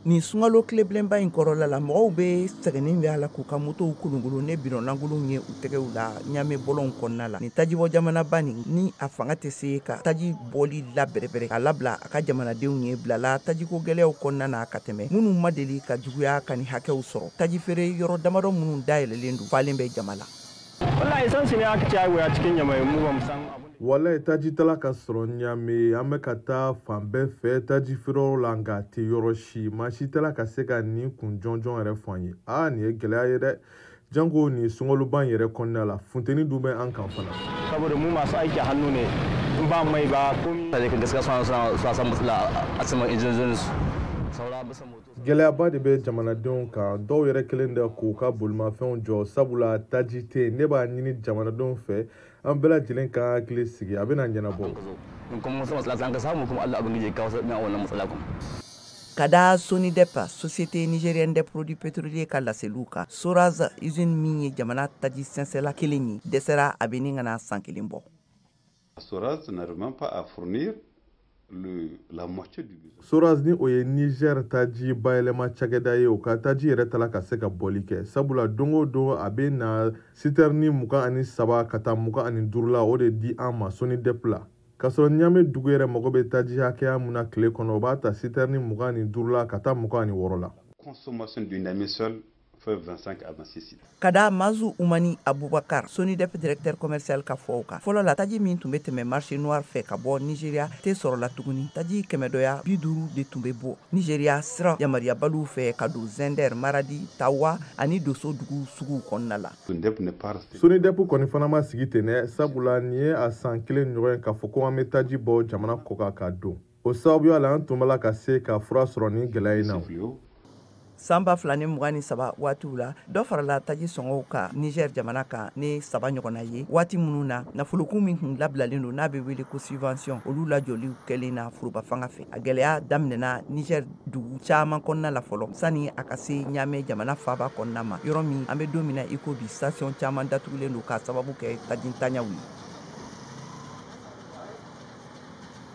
nin sungalo tilebilenba in kɔrɔla la mɔgɔw bɛɛ sɛgɛnnin bɛ a la k'u ka motow kolonkolon ni bidɔn lankolonw ye u tɛgɛw la ɲame bɔlɔnw kɔnɔna la nin tajibɔ jamanaba nin ni a fanga tɛ se ka taji bɔli labɛrɛbɛrɛ k'a labila a ka jamanadenw ye bilala tajiko gɛlɛyaw kɔnɔna na ka tɛmɛ minnu ma deli ka juguya ka ni hakɛw sɔrɔ taji feere yɔrɔ damadɔ minnu dayɛlɛlen don falen bɛ jama la wallahi san su ne aka ci a cikin yamai mu ba mu san wallahi taji t'a la ka sɔrɔ ɲame an bɛ ka taa fan bɛɛ fɛ taji feereyɔrɔ la nka a tɛ yɔrɔ si maa si t'a la ka se ka nin kun jɔnjɔn yɛrɛ fɔ an ye aa nin ye gɛlɛya ye dɛ janko nin sunkaloban yɛrɛ kɔnɔna la funteni dun bɛ an kan fana saboda mu masu aiki hannu ne in ba mai ba komi da gaskiya suna suna suna san matsala a saman injinojin su saura bisa Gɛlɛyaba de bɛ jamanadenw kan dɔw yɛrɛ kɛlen don k'u ka bolimafɛnw jɔ sabula taji tɛ yen ne b'a ɲini jamanadenw fɛ an bɛɛ lajɛlen k'an hakili sigi a bɛna ɲɛnabɔ ka da sonidep société nigérienne des produits pétroliers ka laseliw kan soraz usine min ye jamana taji sɛnsɛla kelen ye dɛsɛra a bɛ ni ka na san kelen bɔ Soraz n'arrive même pas à fournir le, la moitié du besoin. Soraz ni o ye Niger taji bayɛlɛma cakɛda ye o ka taji yɛrɛ t'a la ka se ka bɔli kɛ sabula don o don a bɛ na sitɛrini mugan ani saba ka taa mugan ani duuru la o de di an ma Sonidep la k'a sɔrɔ ɲame dugu yɛrɛ mago bɛ taji hakɛya min na tile kɔnɔ o b'a ta sitɛrini mugan ani duuru la ka taa mugan ani wɔɔrɔ la. consommation de Niamey seule Ka da Maazou Oumani Aboubacar, Sonidep directeur commercial ka fɔw kan. Fɔlɔ la taji min tun bɛ tɛmɛ marché noir fɛ ka bɔ Nigeria tɛ sɔrɔ la tuguni. Taji kɛmɛdɔya 50 de tun bɛ bɔ Nigeria sira yamaruyabaliw fɛ ka don Zinder, Maradi, Tahoua ani Dosso dugu suguw kɔnɔna la. Sonidep kɔni fana ma sigi ten dɛ, sabula nin ye a san kelen ɲɔgɔn ye k'a fɔ ko an bɛ taji bɔ jamana kɔkan ka don. o sababuya la an tun b'a la ka se ka fura sɔrɔ nin gɛlɛya in na san ba fila ni mugan ni saba waatiw la dɔ farala taji sɔngɔw kan niger jamana kan ni saba ɲɔgɔnna ye waati minnu na nafolokun min tun labilalen don n'a bɛ wele ko subvention olu lajɔliw kɛlen na foroba fanga fɛ a gɛlɛya daminɛna niger dugu caaman kɔnɔna la fɔlɔ sani a ka se ɲame jamana faaba kɔnɔna ma yɔrɔ min an bɛ don min na i ko bi station caaman datugulen don k'a sababu kɛ tajintanyaw ye